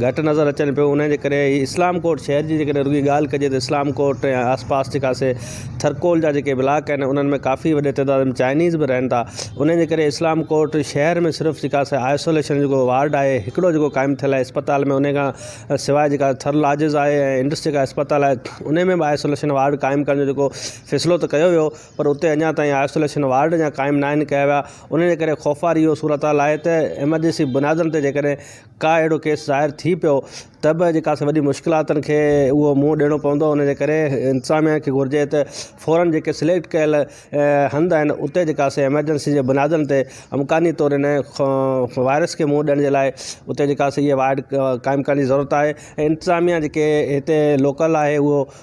گهٽ نظر اچن پيو ان جي ڪري هي اسلام ڪوٽ شهر جي جيڪڏهن رڳي ڳالهه ڪجي ته اسلام ڪوٽ ۽ آس پاس جيڪا سي ٿرڪول جا جيڪي بلاڪ آهن انهن ۾ ڪافي وڏي تعداد ۾ چائنيز به رهن ٿا ان جي ڪري اسلام ڪوٽ شهر ۾ صرف جيڪا سي آئسوليشن جيڪو وارڊ آهي هڪڙو جيڪو قائم ٿيل آهي اسپتال ۾ ان کان سواء جيڪا ٿر لاجز آهي ۽ انڊس جيڪا اسپتال آهي ان ۾ به آئسوليشن وارڊ قائم ڪرڻ جو جيڪو فيصلو ته ڪيو ويو پر اتي اڃا تائين آئسوليشن وارڊ اڃا قائم ناهن ڪيا ويا ان جي ڪري خوفوار اهو صورتحال آهي ته ايمرجنسي بنيادن تي جيڪڏهن ڪا اهڙو ڪيس ظاهر ٿي پيو ته به جيڪا سي وڏي مشڪلاتن کي اهو منهن ڏيڻو پوندو ان جي ڪري انتظاميا کي گهرجي ته فورن جيڪي سليڪٽ ڪيل هنڌ آهن اتي جيڪا سي ايمرجنسي جي بنيادن تي امڪاني طور ان وائرس کي منهن ڏيڻ جي لاء اتي جيڪا سي اهي وارڊ قائم ڪرڻ جي ضرورت آهي ۽ انتظاميا جيڪي هتي لوڪل آهي اهو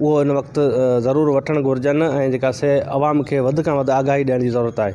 اهو هن وقت ضرور وٺڻ گهرجن ۽ جيڪا سي عوام کي وڌ کان وڌ آگاهي ڏيڻ جي ضرورت آهي.